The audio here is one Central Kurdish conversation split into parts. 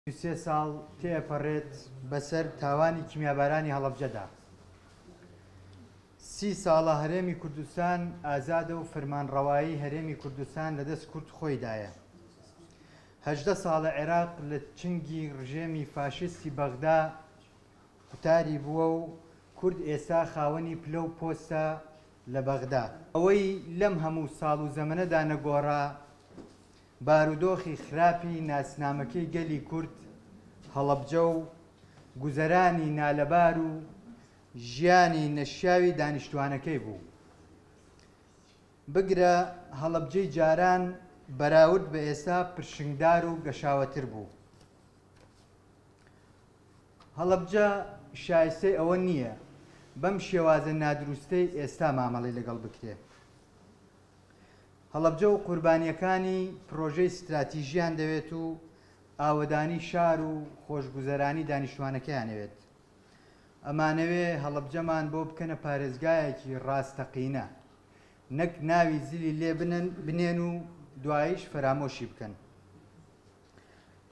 سی و سێ ساڵ تێئەپەڕێت بەسەر تاوانی کیمیابارانی هەڵەبجەدا. سی ساڵە هەرێمی کوردستان ئازادە و فرمانڕەوایی هەرێمی کوردستان لە دەست کورد خۆیدایە. هەژدە ساڵە عێراق لە چنگی ڕژێمی فاشیستی بەغدا قوتاری بووە و کورد ئێستا خاوەنی پلە و پۆستە لە بەغدا. ئەوەی لەم هەموو ساڵ و زەمەنەدا نەگۆڕا، بارودۆخی خراپی ناسنامەکەی گەلی کورد هەڵەبجە و گوزەرانی نالەبار و ژیانی نەشیاوی دانیشتوانەکەی بوو. بگرە هەڵەبجەی جاران بەراورد بە ئێستا پرشنگدار و گەشاوەتر بوو. هەڵەبجە شایستەی ئەوە نییە بەم شێوازە نادروستەی ئێستا مامەڵەی لەگەڵ بکرێ. هەڵەبجە و قوربانییەکانی پڕۆژەی ستراتیژیان دەوێت و ئاوەدانی شار و خۆشگوزەرانی دانیشتوانەکەیان ئەوێت. ئەمانەوێ هەڵەبجەمان بۆ بکەنە پارێزگایەکی ڕاستەقینە، نەک ناوی زلی لێ بنێن و دواییش فەرامۆشی بکەن.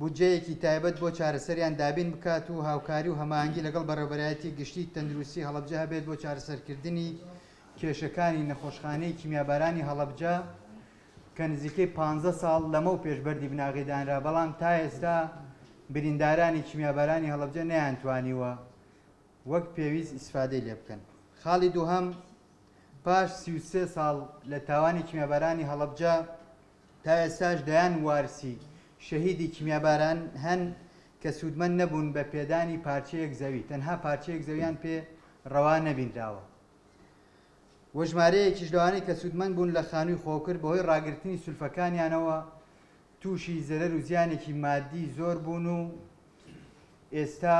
بودجەیەکی تایبەت بۆ چارەسەریان دابین بکات و هاوکاری و هەماهەنگی لەگەڵ بەڕێوەبەرایەتی گشتی تەندروستی هەڵەبجە هەبێت بۆ چارەسەرکردنی کێشەکانی نەخۆشخانەی کیمیابارانی هەڵەبجە کە نزیکەی پانزە ساڵ لەمەو پێش بەردی بناغەی دانرا بەڵام تا ئێستا بریندارانی کیمیابارانی هەڵەبجە نەیانتوانیوە وەک پێویست ئیسفادەی لێ بکەن خاڵی دووهەم پاش سی و سێ ساڵ لە تاوانی کیمیابارانی هەڵەبجە تا ئێستاش دەیان وارسی شەهیدی کیمیاباران هەن کە سوودمەند نەبوون بە پێدانی پارچەیەک زەوی، تەنها پارچەیەک زەویان پێ ڕەوا نەبینراوە و ژمارەیەکیش لەوانەی کە سوودمەند بوون لە خانووی خۆکر بەهۆی ڕاگرتنی سولفەکانیانەوە تووشی زەرەر و زیانێکی مادی زۆر بوون و ئێستا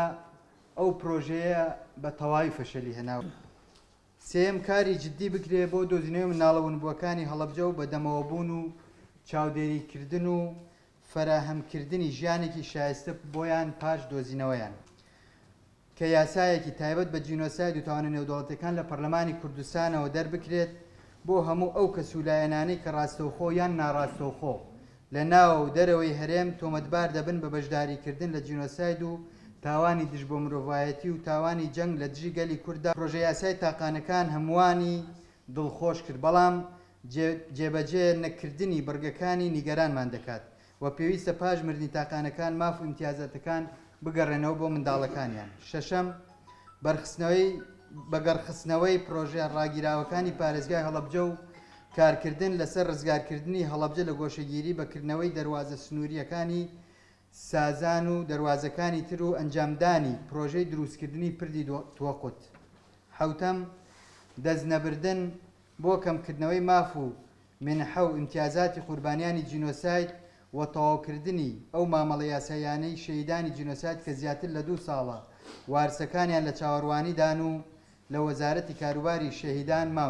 ئەو پرۆژەیە بە تەواوی فەشەلی هێناوە. سێیەم کاری جدی بکرێ بۆ دۆزینەوەی مناڵە ونبووەکانی هەڵەبجە و بەدەمەوە بوون و چاودێری کردن و فەراهەم کردنی ژیانێکی شایستە بۆیان پاش دۆزینەوەیان کە یاسایەکی تایبەت بە جینۆساید و تاوانە نێودەوڵەتیەکان لە پەرلەمانی کوردستانەوە دەربکرێت بۆ هەموو ئەو کەس و لایەنانەی کە ڕاستەوخۆ یان ناڕاستەوخۆ لە ناو و دەرەوەی هەرێم تۆمەتبار دەبن بە بەشداریکردن لە جینۆساید و تاوانی دژ بە مرۆڤایەتی و تاوانی جەنگ لە دژی گەلی کورددا، پرۆژەیاسای تاقانەکان هەمووانی دڵخۆش کرد، بەڵام جێبەجێ نەکردنی بڕگەکانی نیگەرانمان دەکات و پێویستە پاش مردنی تاقانەکان ماف و ئیمتیازاتەکان بگەڕێنەوە بۆ منداڵەکانیان. شەشەم. بەگەڕخستنەوەی پڕۆژە ڕاگیراوەکانی پارێزگای هەڵەبجە و کارکردن لەسەر ڕزگارکردنی هەڵەبجە لە گۆشەگیری بە کردنەوەی دەروازە سنوورییەکانی سازان و دەروازەکانی تر و ئەنجامدانی پڕۆژەی دروستکردنی پردی توقوت حەوتەم، دەستنەبردن بۆ کەمکردنەوەی ماف و مێنحە و ئیمتیازاتی قوربانیانی جینۆساید و تەواوکردنی ئەو مامەڵە یاساییانەی شەهیدانی جینۆساید کە زیاتر لە دوو ساڵە وارسەکانیان لە چاوەروانیدان و لە وەزارەتی کاروباری شەهیدان